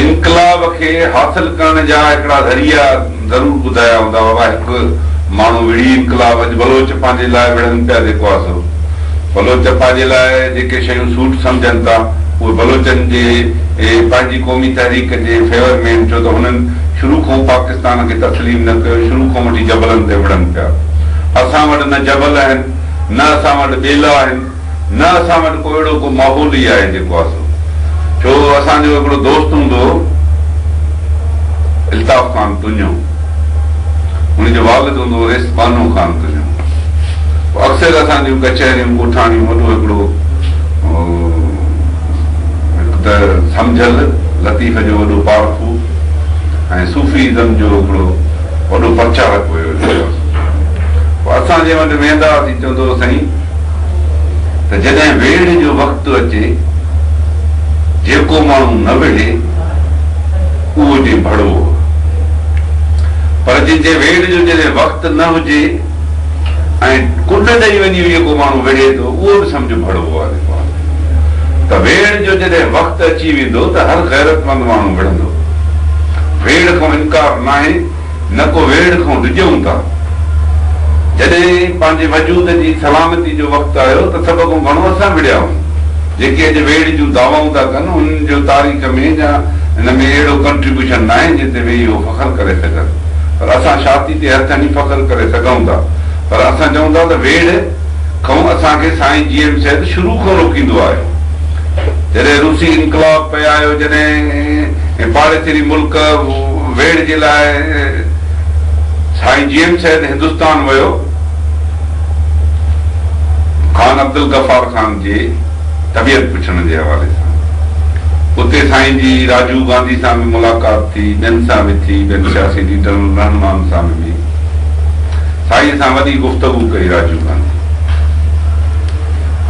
انقلاب کي حاصل ڪرڻ جا هڪڙا ذريعا ضرور ٻڌايا هوندا بابا هڪ ماڻهو وڙهي انقلاب اڄ بلوچ پنهنجي لاء وڙهن پيا جيڪو آسرو بلوچ پنهنجي لاء جيڪي شيون سوٽ سمجهن ٿا اهي بلوچن جي پنهنجي قومي تحريڪ جي فيور ۾ آهن ڇو ته هنن شروع کان پاڪستان کي تسليم نه ڪيو شروع کان وٺي جبلن تي وڙهن پيا اسان وٽ نه جبل آهن نه اسان وٽ ٻيلا آهن. نه اسان وٽ ڪو اهڙو ڪو ماحول ئي آهي جيڪو آسو ڇو اسان جو هڪڙو دوست هوندو هو الطاف خان تونجو ان جو والد هوندو هو ريس بانو خان تونجو هو اڪثر اسان جون ڪچهريون ڳوٺاڻيون وڏو هڪڙو هڪ ته سمجهل لطيف جو وڏو پارکو ۽ صوفي ازم جو هڪڙو وڏو پرچارڪ هيو اسان جنهن وٽ ويندا هئاسين چوندو هو سائين ته جڏهن ويڙهه جو وقت اچي جيڪو ماڻهو نه ويڙهي اهو جي ڀڙو هو پر جي جي ويڙهه جو جڏهن وقت نه هجي ۽ ڪنڊ ڏئي وڃي به جيڪو ماڻهو ويڙهي ٿو اهو به سمجهه ڀڙو هو علي پوان ته ويڙهه جو جڏهن وقت اچي ويندو ته هر غيرتمند ماڻهو وڙهندو ويڙهه کان انڪار ناهي نه ڪو ويڙهه کئون ڊڄئون ٿا. جڏهن پنهنجي وجود جي سلامتي جو وقت آيو ته سڀ کئون گهڻو اسان وڙهيائون. جيڪي اڄ ويڙهه جون دعوائون ٿا ڪن انهن جو تاريخ ۾ يا ان ۾ اهڙو ڪنٽريبيوشن ناهي جنهن تي ويهي اهو فخر ڪري سگهن. پر اسان شاتي تي هٿ هڻي فخر ڪري سگهئون ٿا. پر اسان چئون ٿا ته ويڙهه کئون اسان کي سائين جي ايم سيد شروع کئون روڪيندو آيو. جڏهن روسي انقلاب پئي آيو جڏهن پاڙيسري ملڪ. ويڙهه جي لاء سائين جي ايم سيد هندستان ويو. خان عبدالغفار خان جي طبيعت پڇڻ جي حوالي سان اتي سائين جي راجو گانڌي سان به ملاقات ٿي، ٻين سان به ٿي، ٻين سياسي ليڊرن رهنمائن سان به ٿي. سائين سان وڏي گفتگو ڪئي راجو گانڌي.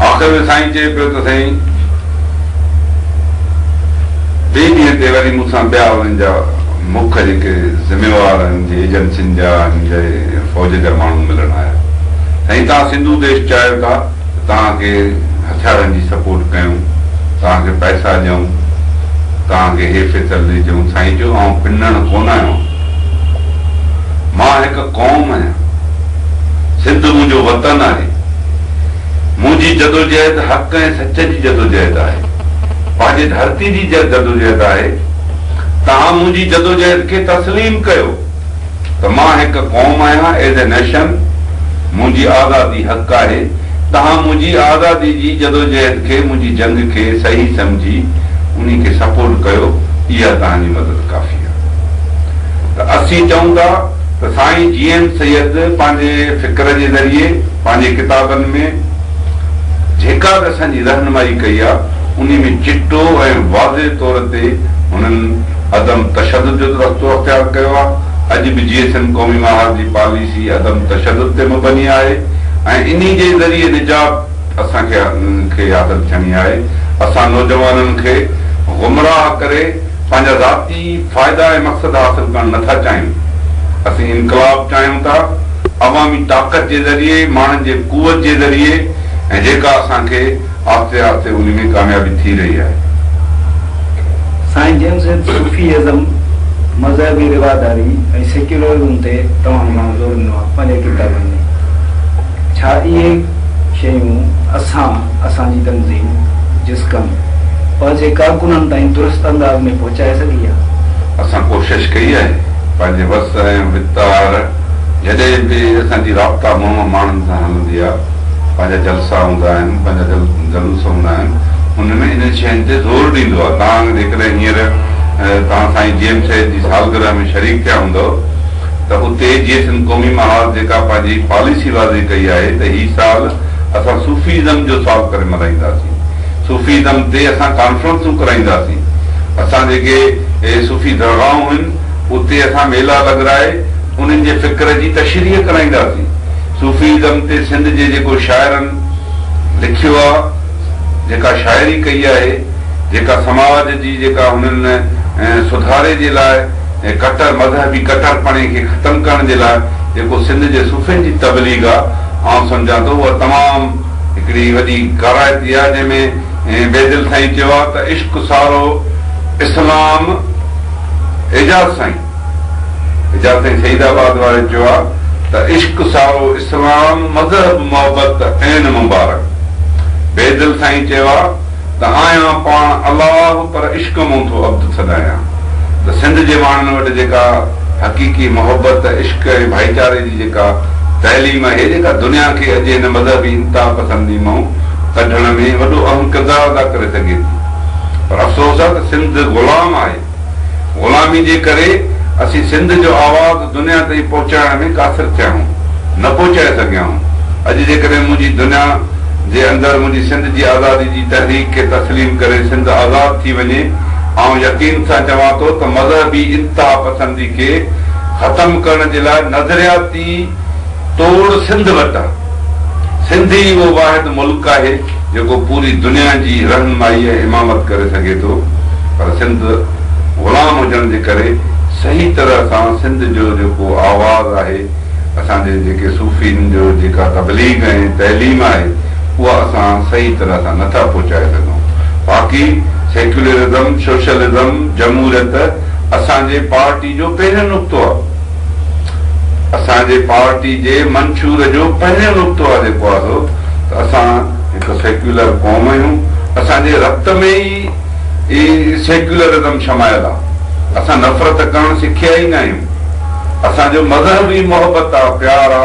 آخر ۾ سائين چئي پيو ته سائين! ٻئي ڏينهن تي وري مون سان ٻيا انهن جا مک جيڪي ذميوار انهن جي ايجنسين جا انهن جي فوج جا ماڻهو ملڻ آيا سائين توهان سنڌو ديش چاهيو ٿا ته توهان کي هٿيارن جي سپورٽ ڪيون توهان کي پئسا ڏيون توهان کي هي فيصل ڏجون سائين چيو آئون پنڻ ڪونه آهيان مان هڪ قوم آهيان سنڌ منهنجو وطن آهي. منهنجي جدوجهد حق ۽ سچ جي جدوجهد آهي. پنهنجي ڌرتي جي جدوجهد آهي. توهان منهنجي جدوجهد کي تسليم ڪيو ته مان هڪ قوم آهيان As a Nation منهنجي آزادي حق آهي. توهان منهنجي آزادي جي جدوجهد کي منهنجي جنگ کي صحيح سمجهي انهي کي سپورٽ ڪيو اها توهان جي مدد ڪافي آهي ته اسين چئون ٿا. ته سائين جي ايم سيد پنهنجي فڪر جي ذريعي پنهنجي ڪتابن ۾ جيڪا به اسان جي رهنمائي ڪئي آ انهي ۾ چٽو ۽ واضح طور تي هنن عدم تشدد جو رستو اختيار ڪيو آ اڄ به جي ايس ايم قومي محاذ جي پاليسي عدم تشدد تي مبني آهي ۽ انهي جي ذريعي نجات اسان کي حاصل ٿيڻي آهي اسان نوجوانن کي گمراهه ڪري پنهنجا ذاتي اهي فائدا ۽ مقصد حاصل ڪرڻ نه ٿا چاهيون. اسين انقلاب چاهيون ٿا، عوامي طاقت جي ذريعي، ماڻهن جي قوت جي ذريعي ۽ جيڪا اسان کي آهستي آهستي انهي ۾ ڪاميابي ٿي رهي آهي. سائين جن سيد صوفي ازم، مذهبي رواداري ۽ سيڪيولرزم تي تمام گهڻو زور ڏنو آهي پنهنجي ڪتابن ۾. ڇا اهي. شيون اسان، اسان جي تنظيم جسقم، پنهنجي ڪارڪنن تائين درست انداز ۾ پهچائي سگهي آهي. اسان ڪوشش ڪئي آهي پنهنجي وس ۽ وتار جڏهن به اسان جي رابطا ماڻهو ماڻهن سان هلندي آهي، پنهنجا جلسا هوندا آهن، پنهنجا جلوس هوندا آهن، ان ۾ انهن شين تي زور ڏيندو آهي، توهان جيڪڏهن هينئر توهان سائين جي ايم سيد جي سالگرهه ۾ شريڪ ٿيا هوندؤ، ته اتي جيئي سنڌ قومي محاذ جيڪا پنهنجي پاليسي واضح ڪئي آهي ته هي سال اسان صوفي ازم جو سال ڪري ملهائينداسين صوفي ازم تي اسان ڪانفرنسون ڪرائينداسين اسان جيڪي صوفي درگاهون هين اتي اسان ميلا لڳرائي انهن جي فڪر جي تشريح ڪرائينداسين صوفي ازم تي سنڌ جي جيڪو شاعرن لکيو آهي جيڪا شاعري ڪئي آهي جيڪا سماج جي جيڪا هنن سڌاري جي لاء ۽ ڪٽر مذهبي ڪٽرپڻي کي ختم ڪرڻ جي لاء جيڪو سنڌ جي صوفين جي تبليغ آ آئون سمجهان ٿو اها تمام هڪڙي وڏي ڪارائتي آ جنهن ۾ بيدل سائين چيو آ ته عشق سارو اسلام اعجاز سائين اعجاز سائين سعيد آباد واري چيو آ ته عشق سارو اسلام مذهب محبت عين مبارڪ بيدل سائين چيو آ ته آيان پاڻ الله پر عشق مون ٿو عبد سڏايان ته سنڌ جي ماڻهن وٽ جيڪا حقيقي محبت، عشق ۽ ڀائيچاري جي جيڪا تعليم اهي جيڪا دنيا کي اڄ هن مذهبي انتها پسندي مئون ڪڍڻ ۾ وڏو اهم ڪردار ادا ڪري سگهي ٿي پر افسوس آهي ته سنڌ غلام آهي. غلامي جي ڪري اسين سنڌ جو آواز دنيا تائين پهچائڻ ۾ قاصر ٿيا آهيون، نه پهچائي سگهيا آهيون. اڄ جيڪڏهن منهنجي دنيا جي اندر منهنجي سنڌ جي آزادي جي تحريڪ کي تسليم ڪري سنڌ آزاد ٿي وڃي، آئون يقين سان چوان ٿو ته مذهبي انتها پسندي کي ختم ڪرڻ جي لاء نظرياتي، توڙ سنڌ وٽان. سنڌ ئي اهو واحد ملڪ آهي جيڪو پوري دنيا جي رهنمائي ۽ امامت ڪري سگهي ٿو پر سنڌ غلام هجڻ جي ڪري صحيح طرح سان سنڌ جو جيڪو آواز آهي اسان جي جيڪي صوفين جو جيڪا تبليغ ۽ تعليم آهي اها اسان صحيح طرح سان نه ٿا پهچائي سگهون باقي سيڪيولرزم، سوشلزم، جمهوريت اسان جي پارٽي جو پهريون نقطو آهي. اسان جي پارٽي جي منشور جو پهريون نقطو آ جيڪو آهو ته اسان هڪ سيڪيولر قوم آهيون، اسان جي رت ۾ ئي سيڪيولرزم شمايل آ، اسان نفرت ڪرڻ سکيا ئي ناهيون، اسان جو مذهب ئي محبت آ، پيار آ.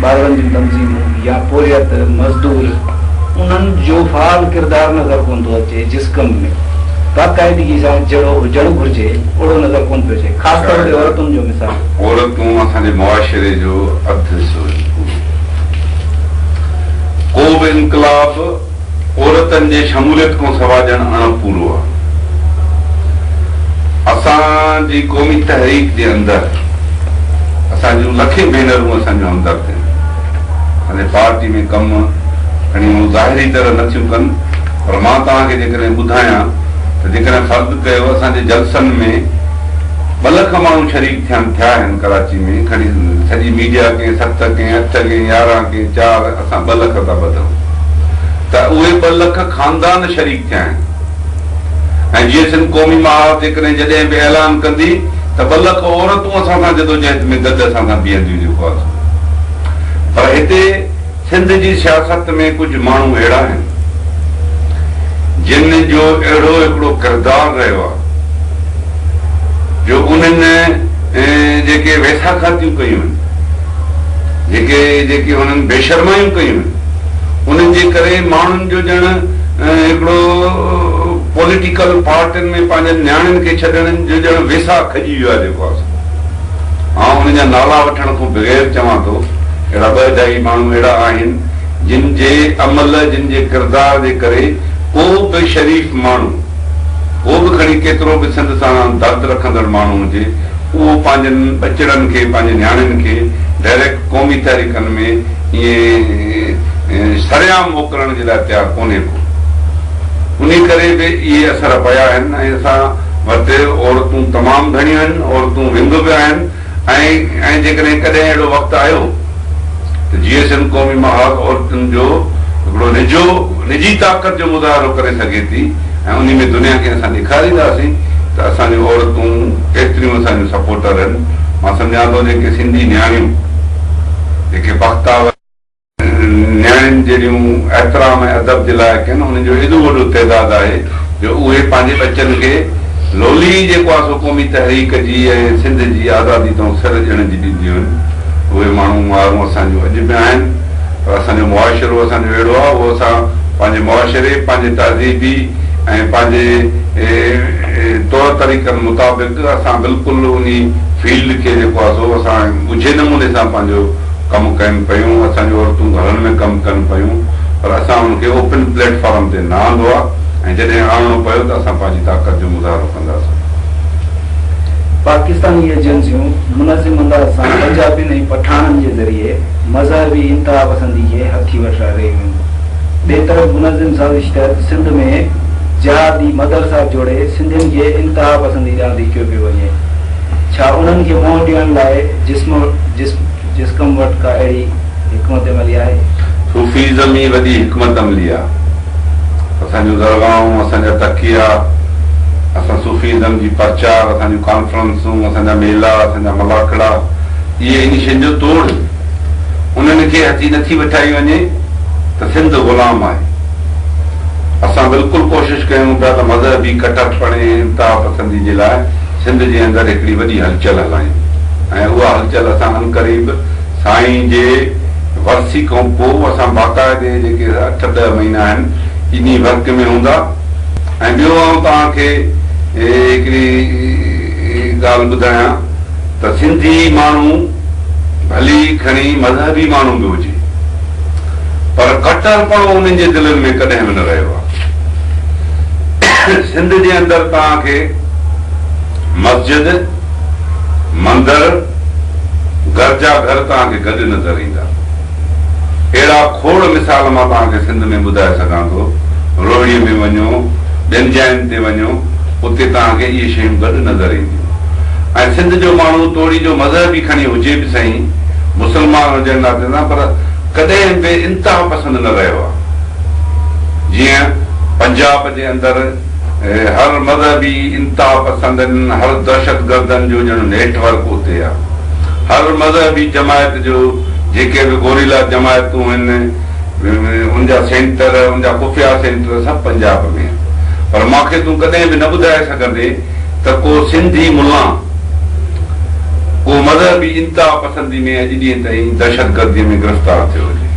ٻارڙن جون تنظيمون يا پورهيت، مزدور، انهن جو فعال ڪردار نظر ڪونه ٿو اچي، جس ڪم ۾ باقاعدگي سان جهڙو هجڻ گهرجي، اهڙو نظر ڪونه پيو اچي، خاص طور تي عورتن جو مثال. عورتون اسان جي معاشري جو اڌ حصو آهن. ڪو به انقلاب عورتن جي شموليت کان سوا ڄڻ اڻ پورو آ. اسان جي قومي تحريڪ جي اندر اسان جون لکين ڀينرون اسان جون همدرد آهن. اسان جي پارٽي ۾ ڪم کڻي اهو ظاهري طرح نه ٿيون ڪن پر مان توهان کي جيڪڏهن ٻڌايان ته جيڪڏهن فرض ڪيو اسان جي جلسن ۾ ٻه لک ماڻهو شريڪ ٿين ٿيا آهن ڪراچي ۾ کڻي سڄي ميڊيا ڪنهن ست ڪنهن اٺ ڪنهن يارهن ڪنهن چار سان ٻه لک رپيا ٻڌو ته اهي ٻه لک خاندان شريڪ ٿيا آهن ۽ جيئي سنڌ قومي محاذ جيڪڏهن جڏهن به اعلان ڪندي ته ٻه لک عورتون اسان سان جدوجهد ۾ گڏ اسان سان بيهنديون جيڪو آهي سو پر هتي سنڌ جي سياست ۾ ڪجهه ماڻهو اهڙا آهن جن جو اهڙو هڪڙو ڪردار رهيو آهي جو انهن جيڪي ويساکاتيون ڪيون آهن. جيڪي جيڪي هنن بيشرمايون ڪيون هيون انهن جي ڪري ماڻهن جو ڄڻ هڪڙو پوليٽيڪل پارٽين ۾ پنهنجن نياڻين کي ڇڏڻ جو ڄڻ ويساهه کڄي ويو آهي جيڪو آسو آئون انهن جا نالا وٺڻ کون بغير چوان ٿو اهڙا ٻه اجائي ماڻهو اهڙا آهن جن جي عمل جن جي ڪردار جي ڪري ڪو به شريف ماڻهو ڪو به کڻي ڪيترو به سنڌ سان درد رکندڙ ماڻهو هجي اهو پنهنجن ٻچڙن کي، پنهنجي نياڻين کي ڊائريڪٽ قومي تحريڪن ۾ ائين سرعام موڪلڻ جي لاء تيار ڪونهي ڪو. انهي ڪري به اهي اثر پيا آهن ۽ اسان وٽ عورتون تمام گهڻيون آهن، عورتون ونگ به آهن ۽ جيڪڏهن ڪڏهن اهڙو وقت آيو، ته جي ايس ايم قومي محاذ عورتن جو هڪڙو نجو نجي طاقت جو مظاهرو ڪري سگهي ٿي ۽ انهي ۾ دنيا کي اسان ڏيکارينداسين ته اسان جون عورتون ڪيتريون اسان جون سپورٽر آهن مان سمجهان ٿو جيڪي سنڌي نياڻيون جيڪي بختاور نياڻين جهڙيون احترام ۽ ادب جي لائق آهن انهن جو ايڏو وڏو تعداد آهي جو اهي پنهنجي ٻچن کي لولي جيڪو آ سو قومي تحريڪ جي ۽ سنڌ جي آزادي تئون سر ڄڻج ڏينديون هن. اهي ماڻهو مارون اسان جون اڄ به آهن پر اسان جو معاشرو اسان جو اهڙو آ اهو اسان پنهنجي معاشري پنهنجي تهذيبي ۽ پنهنجي طور طريقن مطابق اسان بلڪل انهي فيلڊ کي جيڪو آ سو اسان ڳجهي نموني سان پنهنجو ڪم ڪين پيون اسان جون عورتون گهرن ۾ ڪم ڪن پيون پر اسان ان کي اوپن پليٽ فارم تي نه آندو آ. ۽ جڏهن آڻڻو پيو ته اسان پنهنجي طاقت جو مظاهرو ڪنداسين. پاڪستاني ايجنسيون منظم انداز سان پنجابين ۽ پٺاڻن جي ذريعي مذهبي انتهاپسندي کي هٿي وٺرائي رهيون هيون. ٻئي طرف منظم سازش تحت سنڌ ۾ جهادي مدرسا جوڙي سنڌين کي انتهاپسندي ڏانهن ڌڪيو پيو وڃي. ڇا انهن کي منهن ڏيڻ لاء جسم جسقم وٽ ڪا اهڙي حڪمت عملي آهي؟ صوفيزم ئي وڏي حڪمت عملي آهي. اسان جون درگاهون، اسان جا تڪيا، اسان صوفي ازم جي پرچار، اسان جون ڪانفرنسون، اسان جا ميلا، اسان جا ملاکڙا اهي انهي شين جو توڙ هي. انهن کي هٿي نٿي وٺائي وڃي ته سنڌ غلام آهي. اسان بلڪل ڪوشش ڪيون ٿا ته مذهبي ڪٽر پڻي ۽ انتها پسندي جي لاء سنڌ جي اندر هڪڙي وڏي هلچل هلايون ۽ اها هلچل اسان عنقريب سائين جي ورسي کان پوء اسان باقاعدي جيڪي اٺ ڏهه مهينا آهن انهي ورڪ ۾ هوندا ۽ ٻيو آئون توهان کي هڪڙي ڳالهه ٻڌايان ته سنڌي ماڻهو ڀلي کڻي مذهبي ماڻهو به هجي پر ڪٽرپڻو انهن جي دلين ۾ ڪڏهن به نه رهيو آهي سنڌ جي اندر توهان کي مسجد مندر، گرجا گهر توهان کي گڏ نظر ايندا. اهڙا کوڙ مثال مان توهان کي سنڌ ۾ ٻڌائي سگهان ٿو. روهڙيء ۾ وڃو، ٻين جاين تي وڃو، اتي توهان کي اهي شيون گڏ نظر اينديون. ۽ سنڌ جو ماڻهو توڙي جو مذهب ئي کڻي هجي به سهين، مسلمان هجڻ ناتي سان پر ڪڏهن به انتها پسند نه رهيو آهي. جيئن پنجاب جي اندر. هر مذهبي انتهاپسندن، هر دهشتگردن جو ڄڻ نيٽ ورڪ اتي آ. هر مذهبي جماعت جو جيڪي به گوريلا جماعتون هن ان جا سينٽر، ان جا خفيا سينٽر سڀ پنجاب ۾ آهن. پر مان کي تون ڪڏهن به نه ٻڌائي سگهندين ته ڪو سنڌي ملان ڪو مذهبي انتهاپسندي ۾ اڄ ڏينهن تائين دهشتگردي ۾ گرفتار ٿيو هجي.